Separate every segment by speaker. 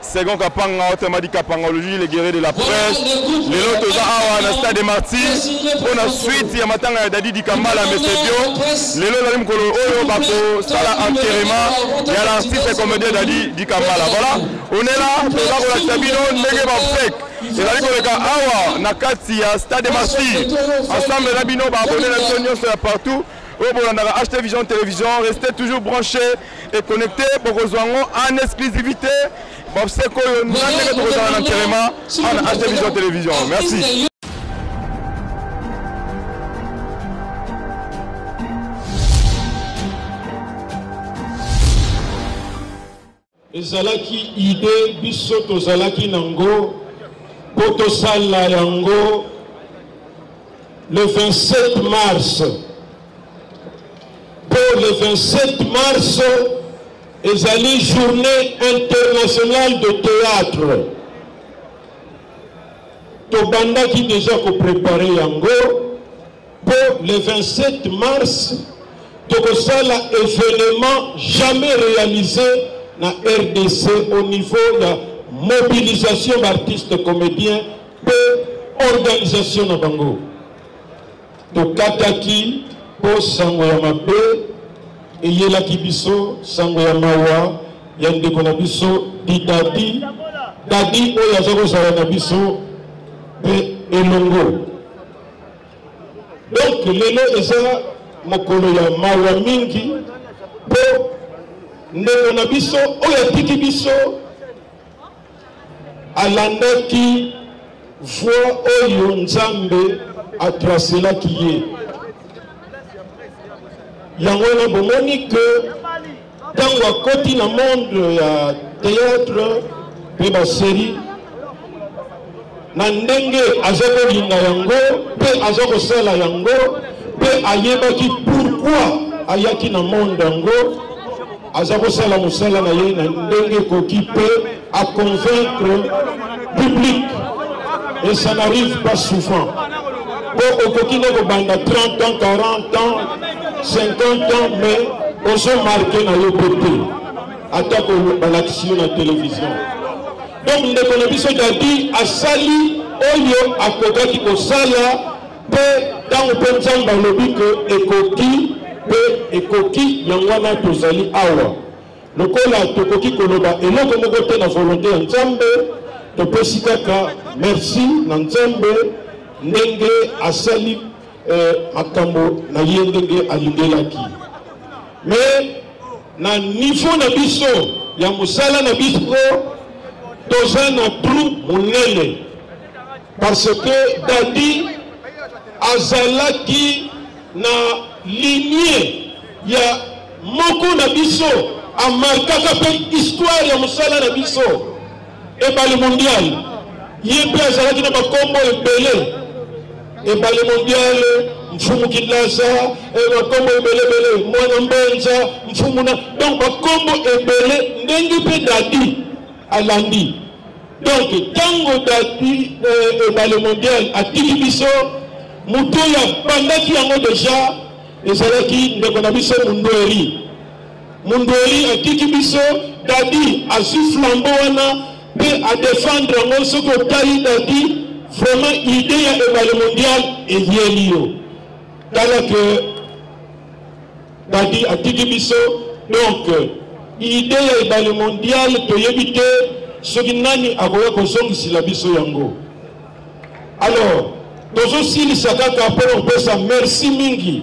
Speaker 1: Second Kapanga, autrement dit Kapanga, le juge le guerrier de la presse. Les lotos awa na stade des martyrs. Pour la suite, il y a matanga ya Dadi Dikambala, mais c'est bio. Les lotos alim kolo oyo bako sala enterrement. Il y a l'artiste et comédien Dadi Dikambala. Voilà. On est là, pour la kola sabino, nege ba fake. ezali koleka awa na kati ya stade de martyr ensemble na bino baabone na biso nyonso ya partout oyo bolandaka ht vision télévision restez toujours branché e connecte bokozwa yango en exclusivité boseko oyo na ndenge tokozala na nterema ana achte vision télévision merci
Speaker 2: ezalaki ide biso tozalaki nango mpo tosala yango le 27 mars Pour le 27 mars ezali journée internationale de théâtre tobandaki déjà koprepare yango mpo le 27 mars tokosala événement jamais réalisé na rdc au niveau ya mobilisation baartiste comédien mpe organisation na bango Tokataki mpo sango ya mabe eyelaki biso, sango ya mawa ya ndeko na biso Didadi, Dadi oyo aza kozala na biso mpe elongo. Donc lelo eza mokolo ya mawa mingi mpo ndeko na biso oyo atiki biso alandaki voie oyo nzambe atraselaki ye yango wana bomoni ke ntango akoti na monde ya théâtre mpe baserie na ndenge azokolinga yango mpe azokosala yango mpe ayebaki pourkui ayaki na monde yango aza kosala mosala na ye na ndenge ekoki mpe aconvaincre public et ça n'arrive pas souvent mpo okoki nde kobanda 30 ans 40 ans 50 ans mais ozomarke na yo mpe te atako balakisi yo na televizio Donc ndeko na biso Dadi asali oyo akokaki kosala mpe ntango mpe Nzambe alobi ke ekoki mpe ekoki yango wana tozali awa lokola tokoki koloba eloko moko te na volonté ya Nzambe topesi kaka merci na Nzambe ndenge asali eh, makambo na ye ndenge alingelaki me na nivo na biso ya mosala na biso toza na trou monene parce que dadi azalaki na linie ya moko na biso amarkaka mpe histoire ya mosala na biso Ebale mondial ye mpe azalaki na bakombo ebele ebale mondial mfumu kinasa eh, bakombo ebelebele mwana mbenza mfumu na donc bakombo ebele ndenge mpe dadi alandi donc ntango dadi eh, ebale mondial atiki biso moto oyo abandaki yango deja ezalaki ndeko na biso mundweri Mundweli atiki biso Dady azui flambeau wana pe a defendre yango soki otali Dady vraiment idee ya ebale mondial eyeli yo tala que Dady atiki biso donc idee ya ebale mondial toyebi te soki nani akoya kozongisila biso yango alors tozosilisa kaka mpo na kopesa merci mingi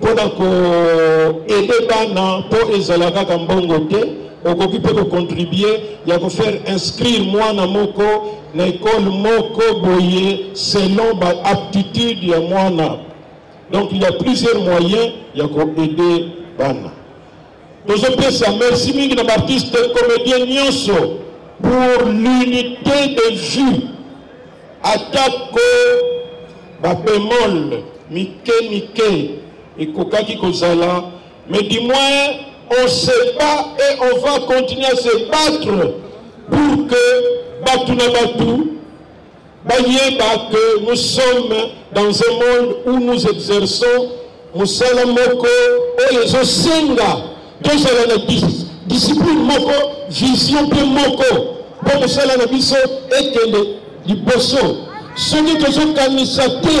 Speaker 2: mpo na koede bana mpo ezala kaka mbongo te okoki mpe kocontribue ya kofaire inscrire mwana moko na ekole moko boye selon baaptitude ya mwana donc il y a plusieurs moyens ya koede bana Tozo pesa merci mingi na ba artistes comediens nyonso pour l'unité de vue atako ba bemol mike mike ekokaki kozala mais du moins on se bat et on va continuer à se battre pour que batu na batu Bayeba que nous sommes dans un monde où nous exerçons mosala moko oyo ezosenga tozala na discipline moko vision mpe moko mpo mosala na biso ekende liboso soki tozokanisa te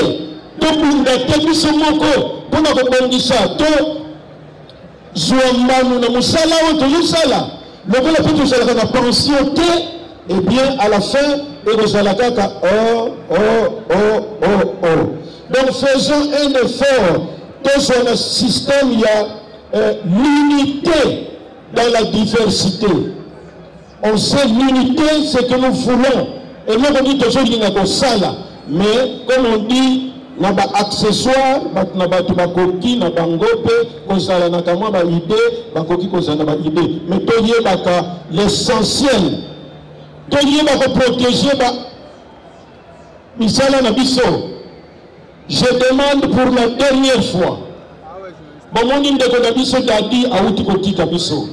Speaker 2: tobunda te biso moko mpo na kobongisa to Zua mbano na musala oyo tozosala lokola mpe tozalaka na pension te et bien à la fin ekozala kaka oh oh oh oh oh donc faisons un effort tozwa na système ya euh, l'unité dans la diversité On sait l'unité ce que nous voulons eloko nini tozolinga kosala mais comme on dit na baaccessoire bato na bato bakoki na bango mpe kozala na kamwa baide bakoki kozala na baide me toyebaka l'essentiel toyeba koprotege ba misala na biso je demande pour la dernière fois bomoni ndeko na biso dadi awuti kotika biso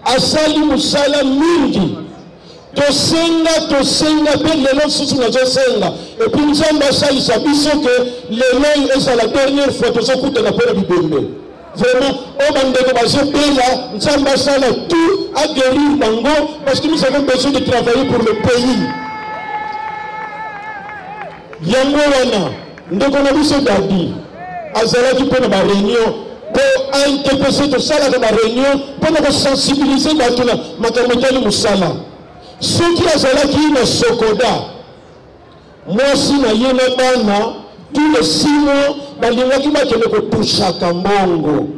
Speaker 2: asali mosala mingi tosenga tosenga mpe lelo lisusu nazosenga epui nzambe asalisa biso ke lelo oyo ezala dernière fois tozokutana mpo na bibembe vraiment oyo bandeko bazobela nzambe asala tout aguerir bango parce que nous avons besoin de travailler pour le pays Yango wana ndeko na biso Gabi azalaki mpe na ba reunion mpo aintepese tosalaka ba reunion mpo na kosensibilize bato na makambo etali mosala. Soki azalaki na Sokoda, mwasi na ye na bana tous les six mois balingaki bakende kotushaka mbongo.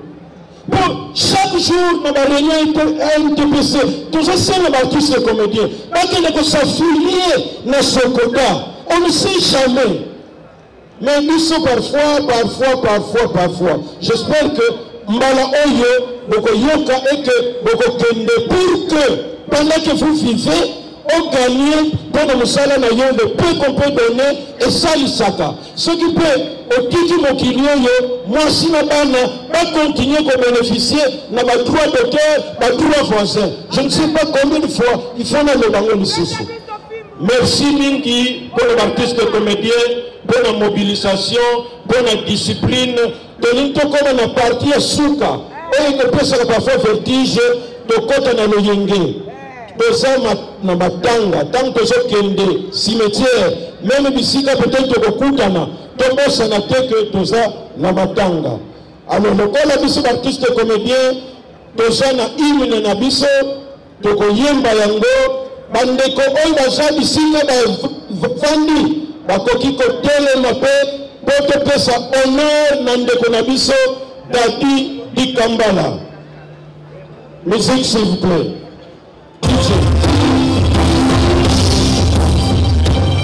Speaker 2: Bon, chaque jour na bareunion ntpc tozosenga baartiste ya comédien bakende kosafilie na sokoda on ne sait jamais mais biso parfois parfois parfois parfois j'espère que mbala oyo bokoyoka eke bokokende pour que pendant que vous vivez oganie mpo na mosala na yo le peu qu'on peut donner esalisaka Soki mpe otiki mokili oyo, mwasi na bana ba continuer ko beneficier na ba droits d'auteur, ba droits voisins. Je ne sais pas combien de fois il faut naloba ngo lisusu. Merci mingi mpo na ba artistes comédiens mpo na mobilisation mpo na discipline Tolingi tokoma na partie ya suka oyo ekopesaka parfois vertige, tokota na loyenge toza na matanga ntango tozokende cimetière meme bisika peut-être tokokutana tobosana te ke toza na matanga alors lokola biso baartiste comédien toza na hymne na biso Tokoyemba yango bandeko oyo baza bisika bafandi bakoki kotelema mpe mpo topesa honore na ndeko na biso dadi dikambala musique s'il vous plaît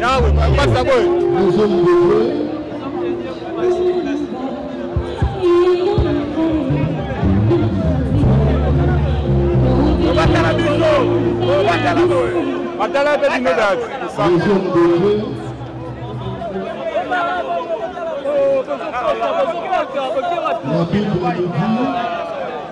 Speaker 1: yawe pasta boy batala
Speaker 3: biso
Speaker 1: batala boy batala pe bino dati
Speaker 3: Nabi Boulidi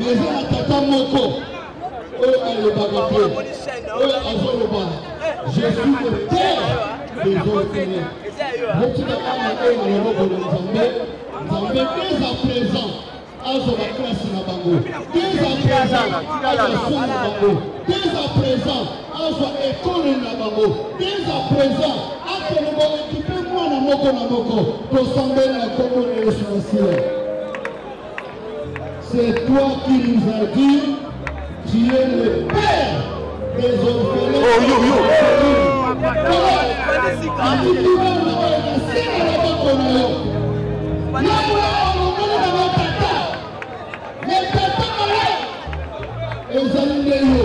Speaker 3: eza na tata moko oyo alobaka te oyo azoloba je suis le père des orphelins botika bana oyo na loboko na nzambe nzambe dès à présent azwa baklase na bango dès à présent azwa somo na bango dès à présent azwa ekole na bango dès à présent akende boekipe mwana moko na moko tosambeli na nkombo na yesu masiya C'est toi qui nous as dit, tu es le père des orphelins. Oh yo yo. ezali nde yo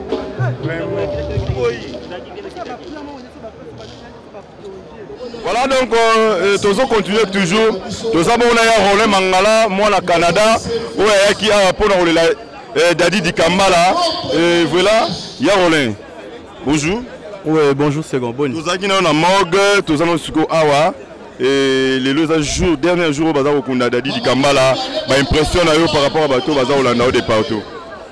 Speaker 1: Voilà donc euh, euh tozo continuer toujours toza mona ya Roland Mangala mwana Canada oyo ayaki awa mpo na kolela euh, Daddy Dikambala euh, voilà ya Roland bonjour oui bonjour
Speaker 4: second boni tozalaki nayo na morgue
Speaker 1: toza na siko awa et lelo eza jour dernier jour oyo baza kokunda Daddy Dikambala ba impression na yo par rapport à bato baza kolanda yo de partout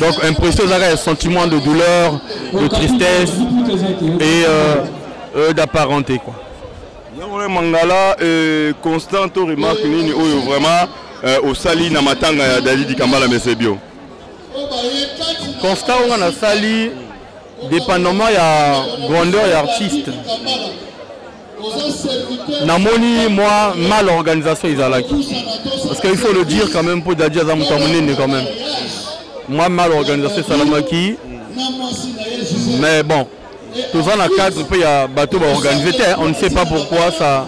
Speaker 4: Donc impression eza kaka sentiment de douleur, de tristesse et euh, euh, d'apparenté quoi. yango na mangala
Speaker 1: euh, constant to remarque nini oyo vraiment euh, osali na matanga ya dalidi kambala mesebio
Speaker 4: constat oyo nga nasali dépendamment ya grandeur ya artiste namoni moi mal organisation ezalaki parce que il faut le dire quand même mpo dadi aza moto ya monene quand même moi mal organisation esalamaki mais bon toza na cadre mpe ya bato baorganize te on ne sait pas pourquoi ça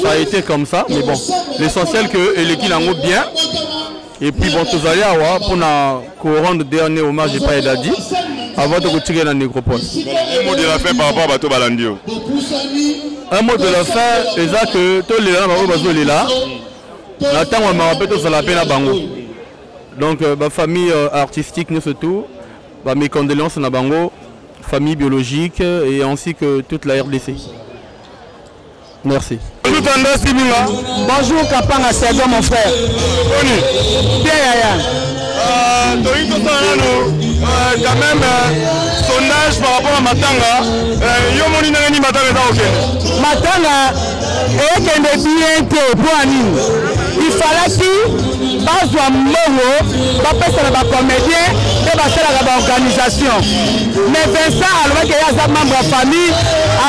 Speaker 4: ça a été comme ça mais bon l'essentiel que eleki nango bien Et puis bon, tozali awa mpo na korendre dernier hommage epai ya dadi avant tokotikela na nécropole Un mot de la fin
Speaker 1: par rapport à bato balandi yo.
Speaker 4: un mot de la fin eza que tolela na bango bazolela na ntango ya mawa mpe tozala mpe na bango donc euh, bafamille euh, artistique nyonso tout bamicondoléance na bango famille biologique euh, et ainsi que toute la rdc Merci. Bonjour Tendance Dibinga.
Speaker 5: Bonjour Kapanga Sergio mon frère. Boni. Bien yaya. Euh, toyi tosala nano
Speaker 1: euh, quand même euh, sondage par rapport à matanga euh, yo omoni ndenge nini matanga eza kokende
Speaker 5: matanga ekende bien te mpo ya nini ifalaki bazwa mbongo bapesa na bacomédien mpe basalaka baorganisation mais vincent alobaki ye aza membre ya famille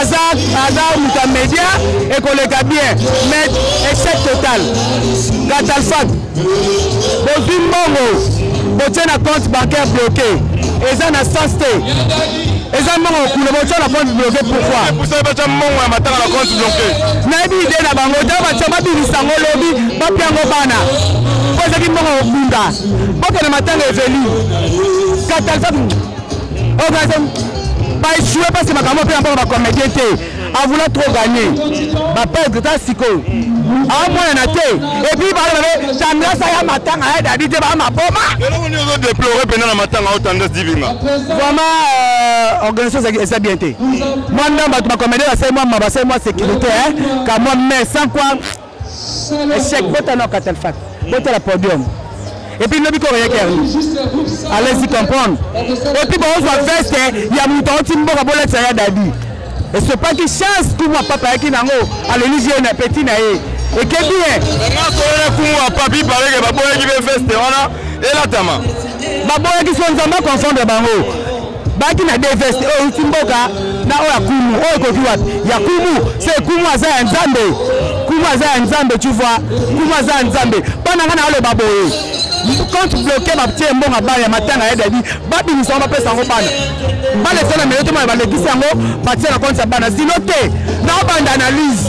Speaker 5: aza aza moto ya media ekoleka bien mais échec total katalfat bozwi mbongo botie na compte bancaire bloqué eza na sens te eza mbongo okula botia na compte bloqué pourquoi batia mbongo ya
Speaker 1: matanga na compte bloqué nayebi ide na
Speaker 5: bango ta batia babimisa yango lobi bapia yango bana mpo ezaki mbongo okunda bokende matanga eveli katalfat baechoue mpasi makambo mpe na mpona bacomédien te avoula trop gagner baperdre ta sikoyo amonana te epuis balobabe tendresse aya matanga ya dadi te baa maboma eloko nini ozo deplore
Speaker 1: mpena na matanga o tendresse divinga vraiment
Speaker 5: euh, organisation eza bien te mwa ndambo bato bacomédien basali mwa ma basali mwa sécurité kamwa mais sans quoi echec bota na katal fat bota la podium et puis lobi koko yaki yango allez y comprendre et puis baozwa veste ya moto auti mboka bolatisa ya dadi esopaki chance kumwa papa ayaki nango alelisi ye na peti na ye ekebi ye nasoyela
Speaker 1: kumwa papi paleke baboyaki mpe veste wana elatama baboyaki
Speaker 5: so nzambe aconfondre bango baki na deux veste oyo euti mboka na oyo ya kumu oyo ekoki wapi ya kumu se kumu aza ya nzambe kumu aza ya nzambe tu vois kumu aza ya nzambe bana ngai naoloba boye compte bloqué batie mbongo bana ya matanga ya dadi babimisa yango bapesa yango bana bana eza na melo tomona balekisi yango batie na compte ya bana zilo te naobanda analyse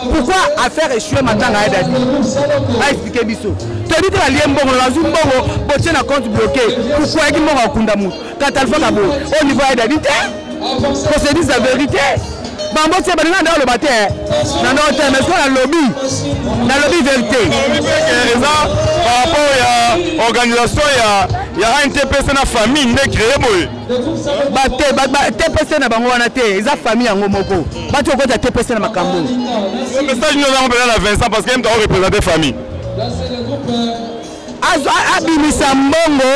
Speaker 5: pourquoi affaire echue matanga ya dadi baexplike biso toyebi te balie mbongo bazwi mbongo botie na compte bloqué pourquoi yaki mbongo akunda motu katalfaka boye au niveau ya dadi te procédure ya vérité bango tie balinga nde oloba te na ndoo te mais soki nalobi nalobi vérité
Speaker 1: eza par rapport ya organisation ya ya antpc na famille nde créé boye bate
Speaker 5: tpc na bango wana te eza famille yango moko bati okota tpc na makambo message
Speaker 1: nini ozango mpena na vincent parce que mta orepresente famille
Speaker 5: abimisa mbongo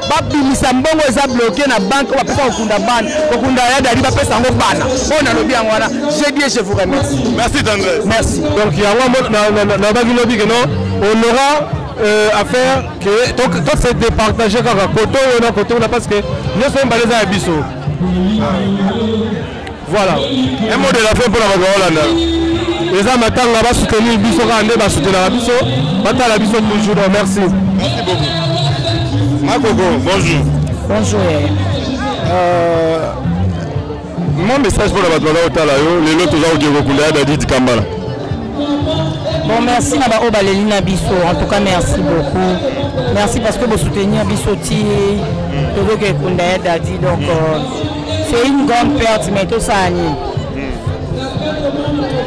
Speaker 5: babimisa mbongo eza bloke na banke bapesa kokunda bana kokunda ya dadi bapesa yango bana oyo nalobi yango wana je bien je vous remercie merci tendresse
Speaker 1: merci donc yango
Speaker 4: nalobaki lobi keno on aura euh, affaire to se départager kaka koto oyo na koto oyo parce que nyonso oyo mbala eza ya biso voilà un mot de la
Speaker 1: fin mpona bato baolanda eza
Speaker 4: matanga basoutenir biso kaka nde basoutenaka biso batala biso toujours donc merci merci
Speaker 1: beaucoup makoko bonjour bonjour euh... Mon message pour la bato baza kotala yo lelo toza kokende kokunda ya dadid kambala
Speaker 5: bon merci na baoyo baleli na biso en tout cas merci beaucoup merci parce que bosoutenir biso ti tozoki ekunda ya dadi donc euh, c'est une grande perte mais tosala nini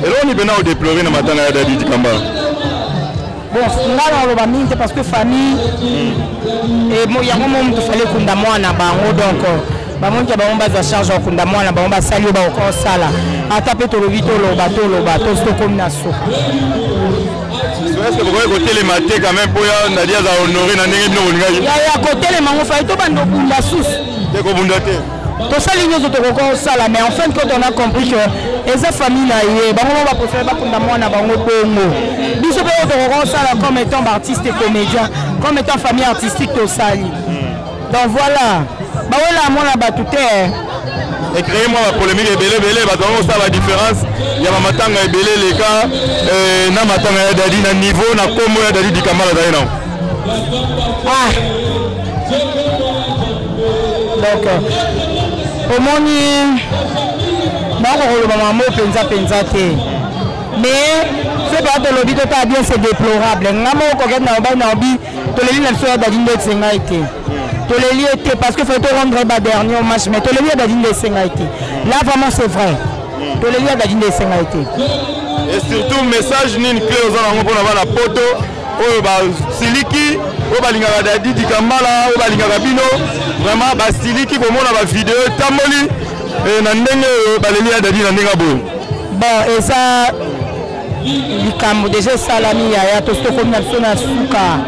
Speaker 5: eloko
Speaker 1: nipena odeplore na matanga ya dadid kambala
Speaker 5: bon ngai nakoloba mingi te parce que famille hmm. yango mo moto fale ekunda mwana bango donc bamoniki ya bango bazwa charge ya kokunda mwana bango basali oyo bakokosala ata mpe tolobi toloba toloba tosi tokomi na suka
Speaker 1: bokoki kotelema te quand même mpo ya ndadi aza honore na ndenge bino bolingaki ya
Speaker 5: kotelema ngo fai tobanda obunda susu te kobunda te
Speaker 1: tosali nyonso
Speaker 5: tokoki kosala mais en fin de compte on a compris que eza famille na ye bango moko baprefere bakunda mwana bango bongo biso mpe oyo tokoki kosala comme étant baartiste et comédien comme étant famille artistique tosali hmm. donc voilà bawela mwana bato te ecreye
Speaker 1: mwa bapolémike ebele ebele bato yango kosala badifférence ya bamatanga ebele eleka euh, na matanga ya dadi na niveau na nkombo ya dadi dikambala azali nango
Speaker 5: ah. donc omoni naoko koloba mamo mpenza mpenza te mais soki oya tolobi totala bien c'est déplorable ngai moko kokende na obai na obi toleli na biso ya dadi nde esengai te toleli ye te parce que faut torendre ba dernier match mais toleli ya dadi nde esengai te là vraiment c'est vrai toleli ya dadi nde esengai te et
Speaker 1: surtout message nini clé oza nango mpo na bana poto oyo basiliki oyo balingaka dadi dikambala oyo balingaka bino vraiment basiliki komona bavideo etamboli eh, na ndenge oyo baleli ya dadi na ndenge boye bon eza
Speaker 5: likambo deja esalami yaya tosi tokomi na biso na suka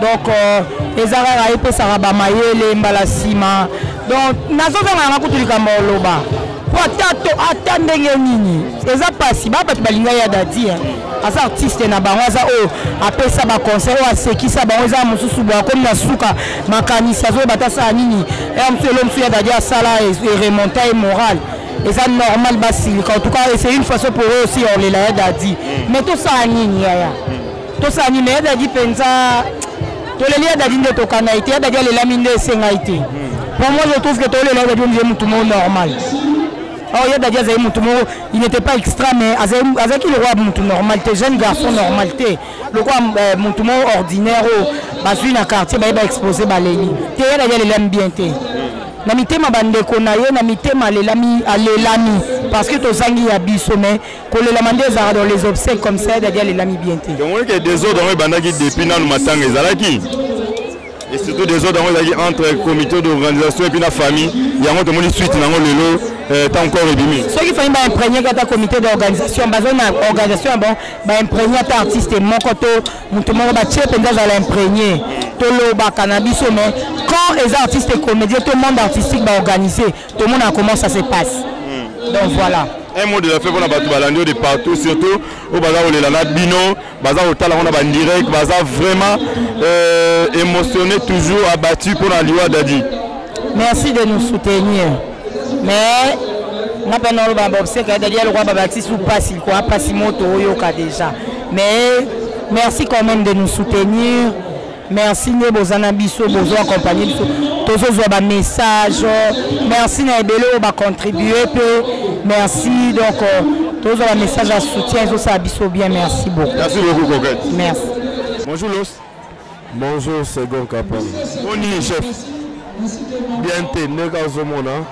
Speaker 5: donc euh, eza kaka epesaka bamayele mbala nsima donc nazozanga yanga kutu likambo ya oloba mpo ata to ata ndenge nini eza mpasi ba bato balingai ya dadi aza artiste na bango aza oyo apesa baconseil oyo asekisa bango eza mosusu boye akomi na suka makanisi azoyeba ata asala nini ya mosusu elo mosusu ya dadi asala eremonta ye morale eza normal basilika en tout cas c'est une façon pour eux aussi ya olela ya dadi mm. mais tosala nini yaya mm. tosala nini ya dadi mpenza toleli ya dadi nde tokana ye te ya dadi alelami nde esengai te mm. pour moi je trouve que tolela ya dadi omize motu mo normal Oh, ya dadi azali motu moko il n'était pas extra mais azalaki lokola motu normal te jeune garçon normal te lokola euh, motu moko ordinaire oyo oh, bazwi na quartier baye baexpose baleli te ya dadi alelami bien te na mitema bandeko na ye na mitema alelami alelami parce que tozangi ya biso mais kolelama nde ezalaka dans les obsèques comme ça ya dadi alelami bien te omoni ke desordre yango
Speaker 1: ebandaki depuis nanu matanga ezalaki et surtout des autres yango ezalaki entre comité d'organisation epuis na famille yango tomoni suite na yango lelo euh, ntango corps ebimi soki famille baimprégniaki
Speaker 5: ata comité d'organisation bazali na organisation ya bon baimprégni ata artiste moko to moto moko batie mpenza azala imprégnie tolobaka na biso mais quand eza artiste comédien to monde artistique baorganise tomonaka comment ça se passe hmm. donc voilà un mot de la fin mpona
Speaker 1: bato balandi yo de partout surtout oyo baza kolela na bino baza kotala ngo na bandirect baza vraiment euh, émotionné toujours abattu mpo na liwa dadi merci de
Speaker 5: nous soutenir mais nga mpe naoloba baobseke ya dadi alokola babakisi mpasi likoa mpasi moto oyoka déjà mais merci quand même de nous soutenir merci nde boza na biso bozo accompagne biso tozozwa bamessage merci na ebele oyo bacontribue mpe merci donc euh, tozwa bamessage ya soutien ezosala biso bien merci beaucoup merci beaucoup coquette
Speaker 1: merci
Speaker 5: bonjour los
Speaker 1: bonjour
Speaker 6: second capon boni chef bien te ndenge azomona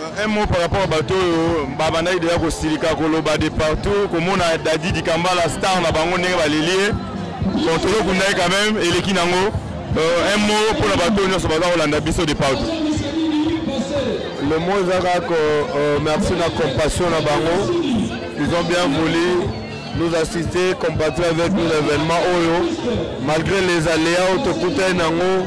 Speaker 1: Euh, un mot par rapport à bato oyo babandaki deja kosilika koloba de partout komona dadi dikambala star na bango ndenge baleli ye bon tozokundaki quand même eleki nango euh, un mot mpo na bato oyo nyonso baza kolanda biso de partout
Speaker 6: le mot eza kaka euh, merci na compassion na bango ils ont bien voulu nous assister compatir avec nous l'événement oyo malgré les aléas oyo tokutani nango